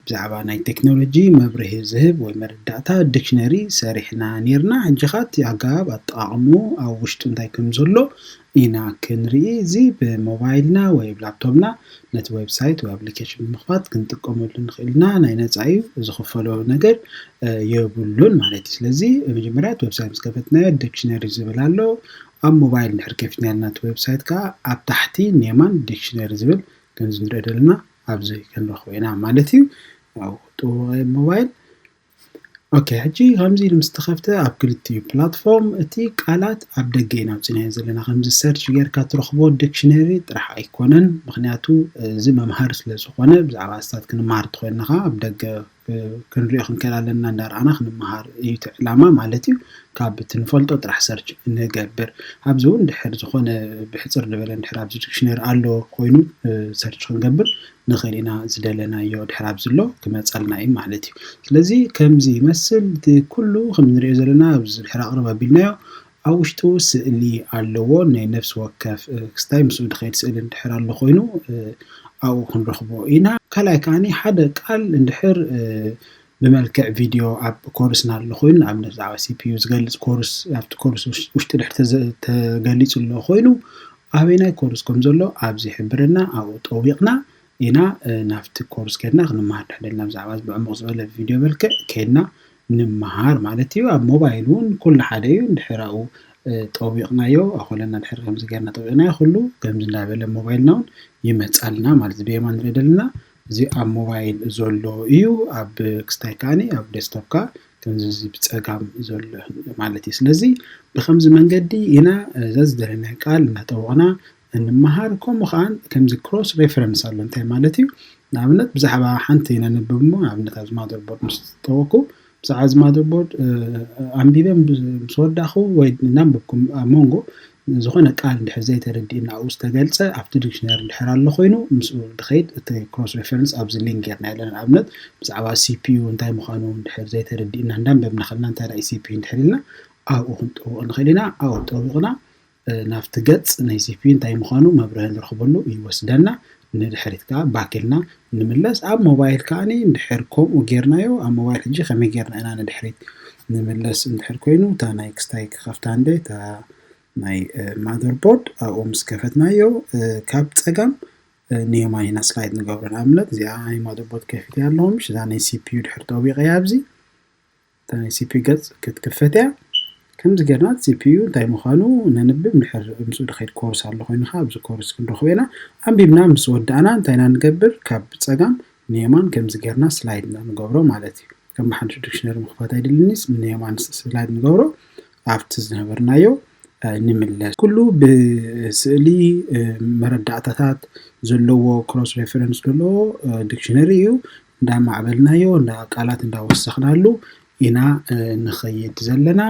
ብዛዕባ ናይ ቴክኖሎጂ መብርሂ ዝህብ ወይ መረዳእታ፣ ዲክሽነሪ፣ ሰሪሕና ኔርና። ሕጂ'ኻ እቲ ኣገባብ ኣጠቓቕምኡ ኣብ ውሽጡ እንታይ ከም ዘሎ ኢና ክንርኢ። እዚ ብሞባይልና ወይ ብ ላፕቶብና ነቲ ዌብሳይት ወይ ኣፕሊኬሽን ብምኽፋት ክንጥቀመሉ ንኽእል ኢና። ናይ ነጻ እዩ፣ ዝኽፈሎ ነገር የብሉን ማለት እዩ። ስለዚ መጀመርያ እቲ ዌብሳይት ምስ ከፈትናዮ ዲክሽነሪ ዝብል ኣሎ። ኣብ ሞባይል እንድሕር ከፊትናልና እቲ ዌብሳይት ከኣ ኣብ ታሕቲ ን የማን ዲክሽነሪ ዝብል ከምዚ ንሪኦ ዘለና ኣብዚ ክንረክቦ ኢና ማለት እዩ ናብቱ ሞባይል ኦኬ ሕጂ ከምዚ ኢሉ ምስ ተኸፍተ ኣብ ክልቲኡ ፕላትፎርም እቲ ቃላት ኣብ ደገ ኢና ኣውፂናዮ ዘለና ከምዚ ሰርች ጌርካ ትረኽቦ ዲክሽነሪ ጥራሕ ኣይኮነን ምክንያቱ እዚ መምሃሪ ስለ ዝኾነ ብዛዕባ ኣስታት ክንመሃር ተኮይንኻ ኣብ ደገ ክንሪኦ ክንክእል ኣለና እንዳርኣና ክንመሃር እዩ እቲ ዕላማ ማለት እዩ ካብ እቲ ንፈልጦ ጥራሕ ሰርች ንገብር ኣብዚ እውን ድሕር ዝኾነ ብሕፅር ዝበለ ድሕር ኣብዚ ዲክሽነሪ ኣሎ ኮይኑ ሰርች ክንገብር ንኽእል ኢና ዝደለናዮ ድሕር ኣብዚ ኣሎ ክመፀልና እዩ ማለት እዩ ስለዚ ከምዚ ይመስል እቲ ኩሉ ከም ንሪኦ ዘለና ኣብዚ ድሕር ኣቕርብ ኣቢልናዮ ኣብ ውሽጡ ስእሊ ኣለዎ ናይ ነፍሲ ወከፍ ክስታይ ምስኡ ድኸይድ ስእሊ እንድሕር ኣሎ ኮይኑ ኣብኡ ክንረኽቦ ኢና። ካልኣይ ከኣኒ ሓደ ቃል እንድሕር ብመልክዕ ቪድዮ ኣብ ኮርስና ኣሎ ኮይኑ ንኣብነት ብዛዕባ ሲፒዩ ዝገልጽ ኮርስ ኣብቲ ኮርስ ውሽጢ ድሕር ተገሊጹ ኣሎ ኮይኑ ኣበናይ ኮርስ ከም ዘሎ ኣብዚ ሕብርና ኣብኡ ጠዊቕና ኢና ናብቲ ኮርስ ከድና ክንመሃር ድሕደልና ብዛዕባ እዚ ብዕሙቕ ዝበለ ብቪድዮ መልክዕ ከድና ንመሃር ማለት እዩ ኣብ ሞባይል እውን ኩሉ ሓደ እዩ እንድሕር ኣብኡ ጠዊቕናዮ ኣኾለና ድሕር ከምዚ ገርና ጠዊቕናዮ ኩሉ ከምዚ እንዳበለ ሞባይልና እውን ይመጻልና ማለት ብየማን ንርኢ ደለና እዚ ኣብ ሞባይል ዘሎ እዩ ኣብ ክስታይ ከዓኒ ኣብ ዴስክቶፕካ ከምዚ ብጸጋም ዘሎ ማለት እዩ ስለዚ ብከምዚ መንገዲ ኢና እዛ ዝደለናዮ ቃል እናጠወቕና እንመሃር ከምኡ ከኣ ከምዚ ክሮስ ሬፈረንስ ኣሎ እንታይ ማለት እዩ ንኣብነት ብዛዕባ ሓንቲ ነንብብ እሞ ንኣብነት ኣብዚ ማዘርቦርድ ምስ ጠወኩ ብዛዕባ እዚ ማዘርቦርድ ኣንቢበ ምስ ወዳኹ ወይ እናንበብኩም ኣብ መንጎ ዝኾነ ቃል እንድሕር ዘይተረዲእና ኣብኡ ዝተገልጸ ኣብቲ ዲክሽነሪ እንድሕር ኣሎ ኮይኑ ምስኡ ድኸይድ እቲ ክሮስ ሬፈረንስ ኣብዚ ሊንክ ጌርና ኣለና ንኣብነት ብዛዕባ ሲፒዩ እንታይ ምዃኑ እንድሕር ዘይተረዲእና እንዳንበብና ከለና እንታይ ራእይ ሲፒዩ እንድሕር ኢልና ኣብኡ ክንጠውቕ ንኽእል ኢና ኣብኡ ጠዊቕና ናብቲ ገጽ ናይ ሲፒዩ እንታይ ምዃኑ መብርሂ ንረኽበሉ ይወስደና። ንድሕሪት ከኣ back ኢልና ንምለስ። ኣብ ሞባይል ከኣ እንድሕር ከምኡ ጌርናዮ ኣብ ሞባይል ሕጂ ከመይ ጌርና ኢና ንድሕሪት ንምለስ እንድሕር ኮይኑ እታ ናይ ክስታይ ክኸፍታ እንደ እታ ናይ ማዘር ቦርድ ኣብኡ ምስ ከፈትናዮ ካብ ጸጋም ንየማን ኢና ስላይድ ንገብሮ ንኣብነት እዚኣ ናይ ማዘር ቦርድ ከፊት ኣለኹ ምሽ እዛ ናይ ሲፒዩ ድሕር ጠዊቐያ ኣብዚ እታ ናይ ሲፒዩ ገጽ ክትክፈት እያ። ከምዚ ጌርና ሲፒዩ እንታይ ምዃኑ ነንብብ እንድሕር ምስኡ ድኺድ ኮርስ ኣሎ ኮይንካ ኣብዚ ኮርስ ክንረኽቦ ኢና። ኣንቢብና ምስ ወዳእና እንታይ ኢና ንገብር ካብ ጸጋም ንየማን ከምዚ ጌርና ስላይድ ኢና ንገብሮ ማለት እዩ። ከም ብሓንሹ ዲክሽነሪ ምኽፋት ኣይድልንስ ንየማን ስላይድ ንገብሮ ኣብቲ ዝነበርናዮ ንምለስ። ኩሉ ብስእሊ መረዳእታታት ዘለዎ ክሮስ ሬፈረንስ ዘለዎ ዲክሽነሪ እዩ። እንዳማዕበልናዮ ቃላት እንዳወሰኽናሉ ኢና ንኸይድ ዘለና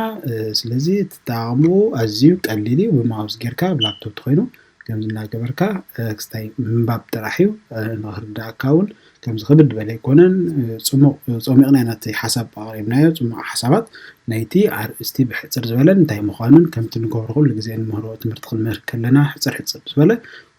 ስለዚ ትጠቃቅምኡ ኣዝዩ ቀሊል እዩ ብማውዝ ጌርካ ኣብ ላፕቶፕ ተኾይኑ ከምዚ እናገበርካ ክስታይ ምንባብ ጥራሕ እዩ ንኽርድኣካ እውን ከምዚ ክብድ በለ ኣይኮነን ፅሙቅ ፀሚቅና ኢና እቲ ሓሳብ ኣቅሪብናዮ ፅሙቅ ሓሳባት ናይቲ ኣርእስቲ ብሕፅር ዝበለን እንታይ ምዃኑን ከምቲ ንገብሮ ኩሉ ግዜ ንምህሮ ትምህርቲ ክንምህር ከለና ሕፅር ሕፅር ብዝበለ